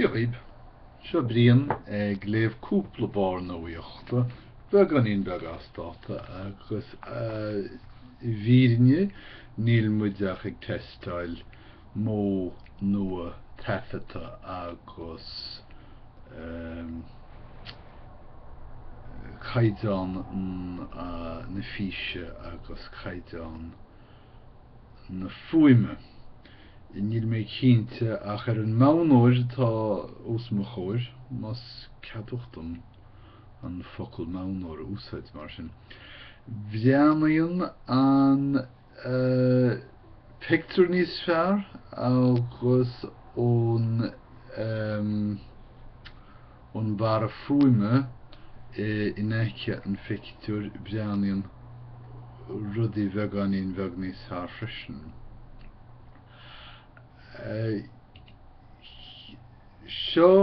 Dia dhaoib. Seo Brian ag léamh cúpla bharr nuaíochta, beagáinín beag as dáta, agus i bhfírinne níl muid ach ag teisteáil modh nua taifeadta agus ehm. caighdeán na físe agus caighdeán. na fuaime. Níl mé cinnte ach ar an monatóir atá os mo chomhair, más ceadmhach dom an focal monatóir a úsáid mar sin, breathnaíonn an pictiúr níos fearr agus ón. an mbarra fuaime in aice an phictiúir, breathnaíonn rudaí beagáinín beag níos fearr freisin. Seo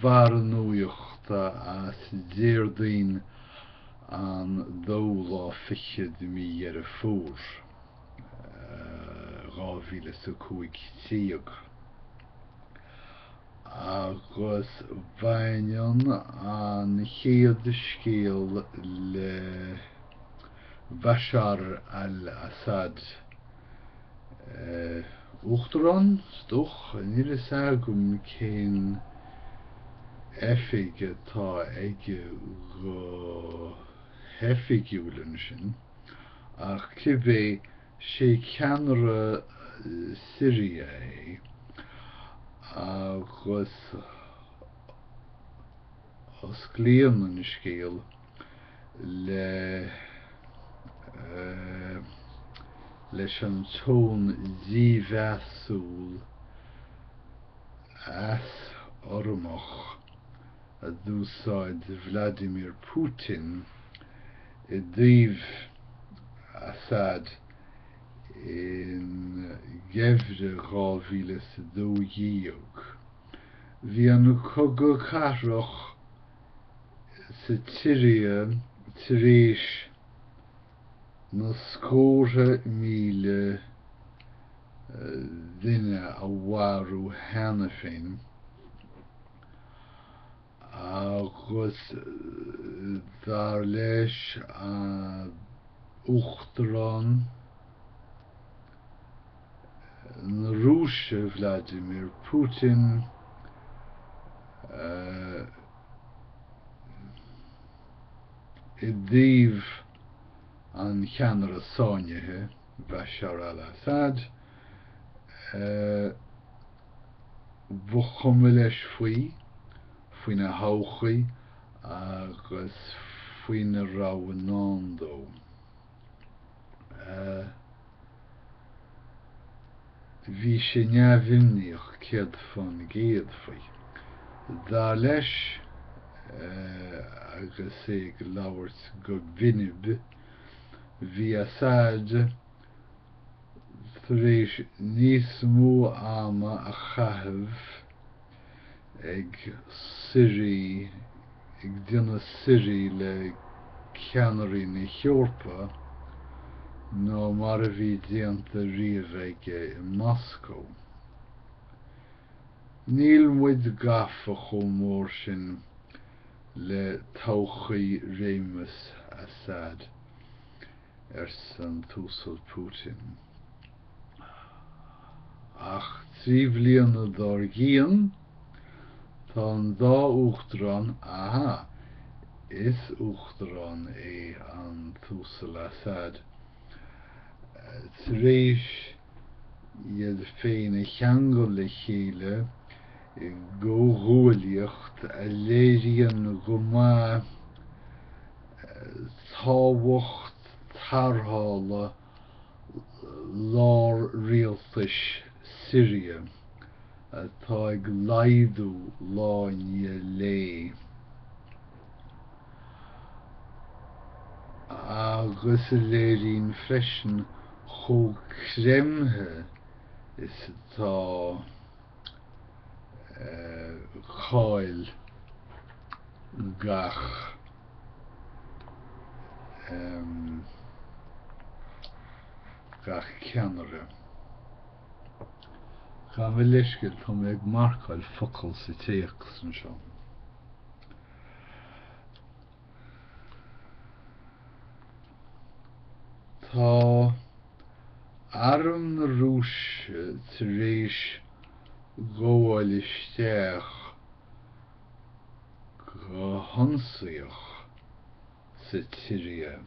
barr nuaíochta as Déardaoin an dóú lá fichead de mí Dheireadh Fómhair, dhá mhíle is a cúig déag. agus baineann an chéad scéal le Bashar al-Assad, Uachtarán, is dócha, níl fhios agam cén oifig atá aige go hoifigiúil ansin, ach cibé, sé ceannaire Siria é agus osclaíonn an scéal le leis an tone dímheasúil easurramach a d'úsáid Vladimir Putin i dtaobh Assad i ngeimhreadh 2012. Bhí an cogadh cathartha sa tír tar éis na scórtha míle duine a mharú cheana féin, agus dar le hUachtarán na Rúise Vladimir Putin i dtaobh an cheannaire sáinnithe, Bashar al-Assad. Ba chuma leis faoi, faoina thodhchaí agus faoina raibh i ndán dó. Bhí sé neamhimníoch céad fán gcéad faoi. Dar leis, agus é ag labhairt go binib, Bhí Assad tar éis níos mó ama a chaitheamh ag suirí, ag déanamh suirí le ceannairí na hEorpa ná mar a bhí déanta riamh aige i Moscó. Níl muid gafa chomh mór sin le todhchaí réimeas Assad, arsa an tUasal Putin. Ach trí bhliana dár gcionn, tá an dá Uachtarán, aha, is Uachtarán é an tUasal Assad, tar éis, iad féin a cheangal le chéile i gcomhghuaillíocht a léiríonn go maith tábhacht tarrthála lár-rialtais Syria atá ag laghdú lá i ndiaidh lae. agus a léiríonn freisin chomh creimthe is atá cáil gach ceannaire. Gabh mo leithscéal, tá mé ag marcáil focail sa téacs anseo. Tá Arm na Rúise tar éis gabháil isteach go hionsaíoch. sa tSiria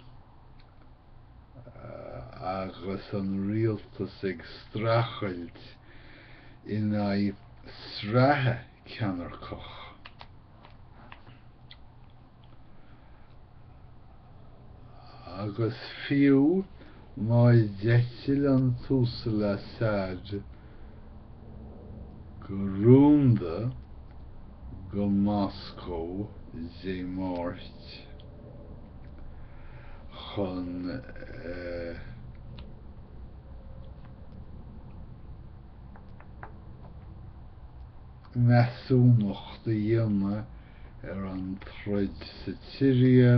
agus an rialtas ag streachailt in aghaidh sraithe ceannairceach. Agus fiú Má d'eitil an tUasal Assad go rúnda go Moscó Dé Máirt chun measúnacht a dhéanamh ar an troid sa tSiria,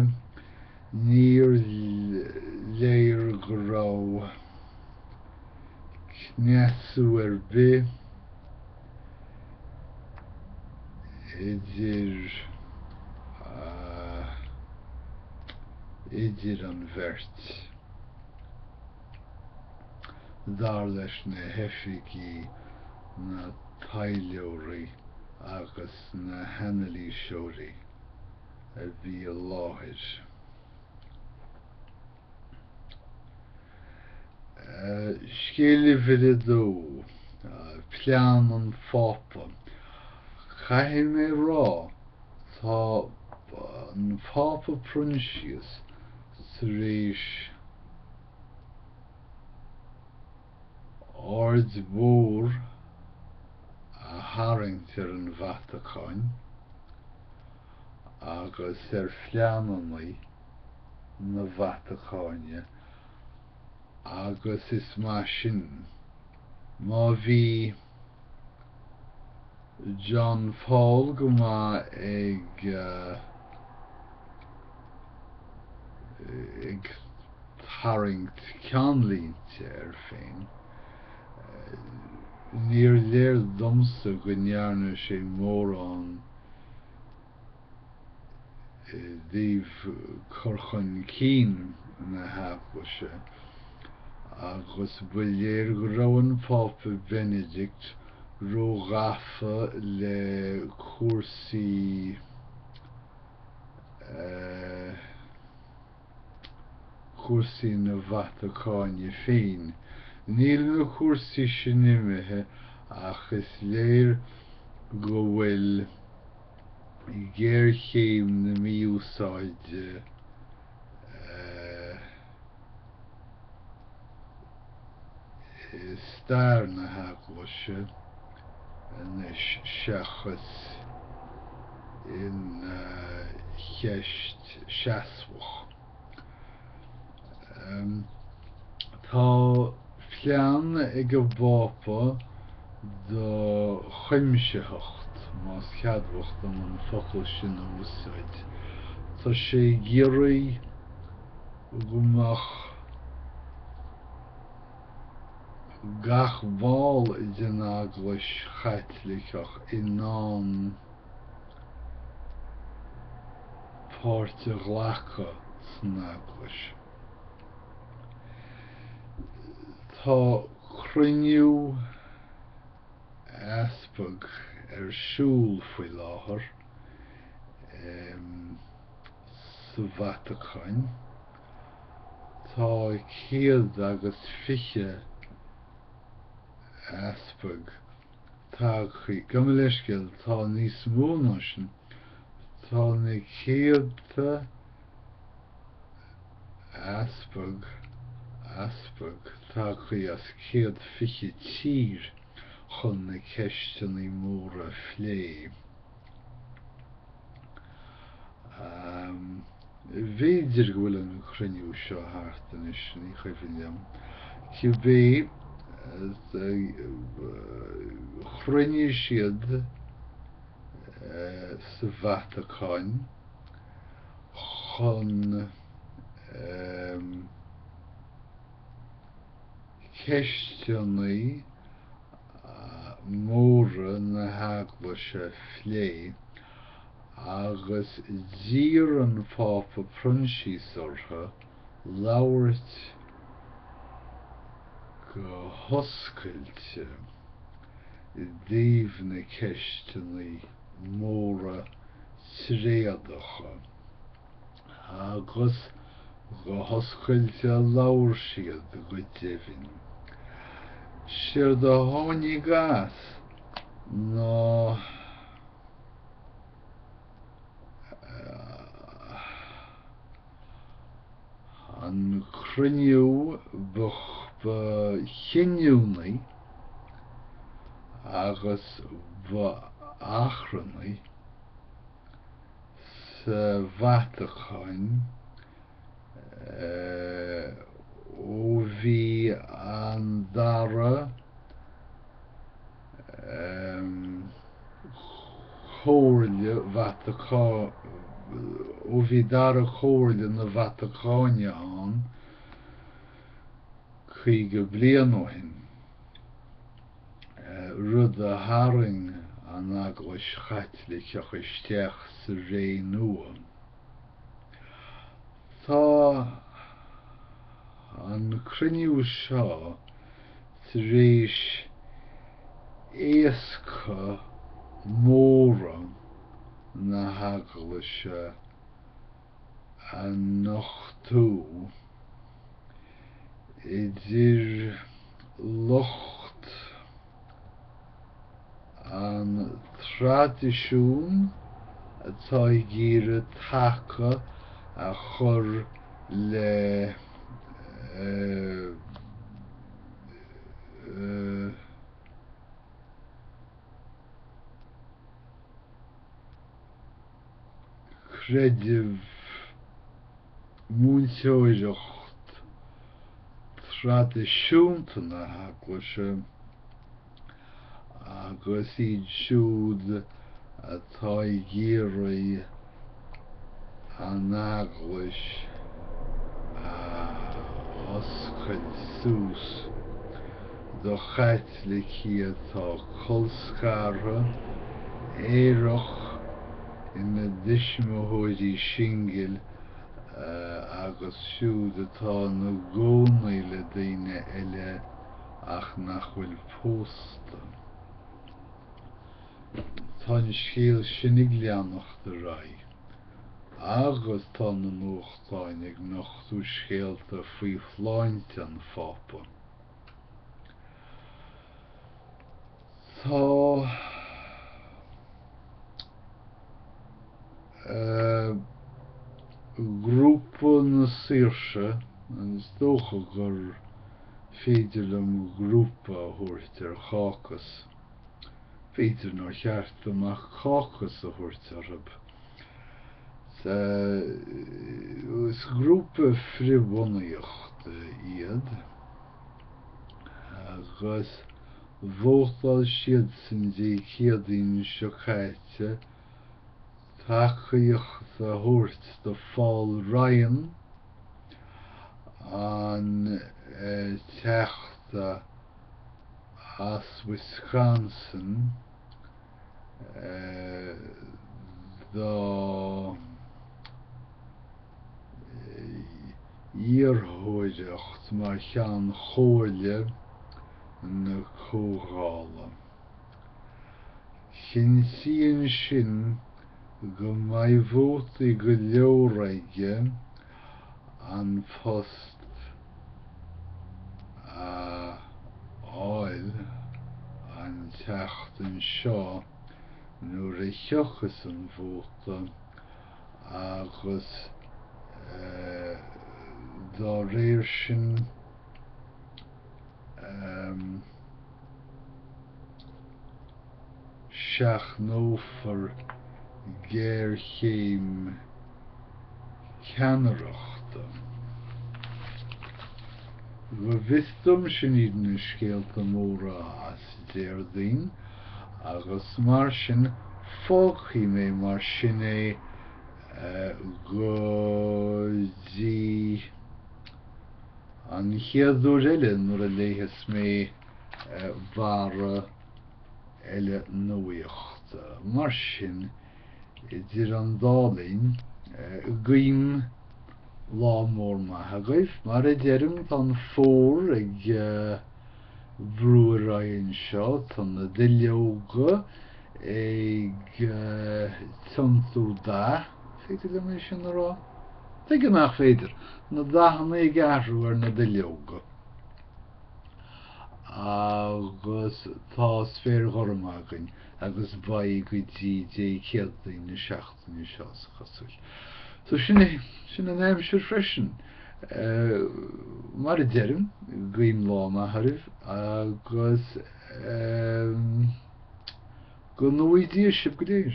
Níor léir go raibh cneasú ar bith idir idir an bheirt, dar leis na hoifigí, na taidhleoirí agus na hanailíseoirí. a bhí i láthair. Scéal uimhir a dó, Plean an Phápa. Caithfidh mé rá tá an Pápa Proinsias tar éis. aird mhór a tharraingt ar an Vatacáin agus ar phleananna na Vatacáine agus is maith sin. Má bhí. John Paul go maith ag ag tarraingt ceannlínte air féin. Níor léir domsa go ndearna sé mórán. i dtaobh cur chun cinn na hEaglaise agus ba léir go raibh an Pápa Beinidict ró-ghafa le cúrsaí cúrsaí na Vatacáine féin, níl na cúrsaí sin imithe ach is léir go bhfuil géarchéim na mí-úsáide eh. i stair na hEaglaise anois seachas ina cheist seasmhach. Tá plean ag an bPápa do chuimsitheacht, más ceadmhach dom an focal sin a úsáid. Tá sé ag iarraidh. go mbeadh gach ball den Eaglais Chaitliceach in ann páirt a ghlacadh san Eaglais. Tá cruinniú Easpag ar siúl faoi láthair. sa Vatacáin. Tá céad agus fiche easpag tagtha gabh mo leithscéal. Tá níos mó ná sin. Tá na céadta easpag, easpag, tagtha as céad fiche tír chun na ceisteanna móra a phlé. B'fhéidir go bhfuil an cruinniú seo thart anois, ní cuimhin liom. Cibé, chruinnigh siad sa Vatacáin chun ceisteanna, móra na hEaglaise a phlé agus d'iarr an Pápa Proinsias orthu labhairt go hoscailte i dtaobh na ceisteanna móra tréadacha. Agus go hoscailte labhair siad go deimhin. Séard a tháinig as ná an cruinniú ba chinniúnaí agus ba achrannaí, sa Vatacáin ó bhí an Dara Comhairle na Vatacáine ann caoga bliain ó shin. rud a tharraing an Eaglais Chaitliceach isteach sa ré nua. Tá an cruinniú seo tar éis éasca móra na hEaglaise, a nochtú idir lucht an traidisiúin atá ag iarraidh taca a chur le creideamh, múinteoireacht traidisiúnta na hEaglaise agus iad siúd atá ag iarraidh an Eaglais a oscailt suas. do Chaitlicigh atá colscartha, aerach, ina dtuismitheoirí singil agus siúd atá ina gcónaí le daoine eile ach nach bhfuil pósta. Tá an scéal sin ag leanacht ar aghaidh agus tá na nuachtáin ag nochtú scéalta faoi shláinte an Phápa. Tá Grúpa na Saoirse, is dócha gur féidir liom grúpa a thabhairt ar cácas, b'fhéidir nár cheart dom ach cácas a thabhairt orthub, Sea, is grúpa frithbhunaíochta iad agus vótáil siad san Dé Céadaoin seo caite tacaíocht a thabhairt do Phaul Ryan, an Teachta as Wisconsin. dá iarrthóireacht mar Cheann Chomhairle na Comhdhála. Cinntíonn sin go mbeidh vótaí go leor aige an phost a fháil an tseachtain seo nuair a thiocfas an vóta agus dá réir sin, Seachnófar géarchéim ceannaireachta. Go bhfios dom sin iad na scéalta móra as Déardaoin agus mar sin fágfaidh mé mar sin é go dtí. An chéad uair eile nuair a léifeas mé barra eile nuaíochta. Mar sin, idir an dá linn, guím lá mór maith agaibh. Mar a deirim, tá an fómhar ag. Brú ar aghaidh anseo, tá na duilleoga ag tiontú dath, an féidir liom é sin a rá? Tuige nach féidir, na dathanna ag athrú ar na duilleoga. Agus tá spéir ghorm againn agus beidh go dtí Dé Céadaoin na seacht Seo is cosúil. So sin é, sin an aimsir freisin. Mar a deirim, guím lá maith oraibh agus go ngnóthaí Dia sibh go léir.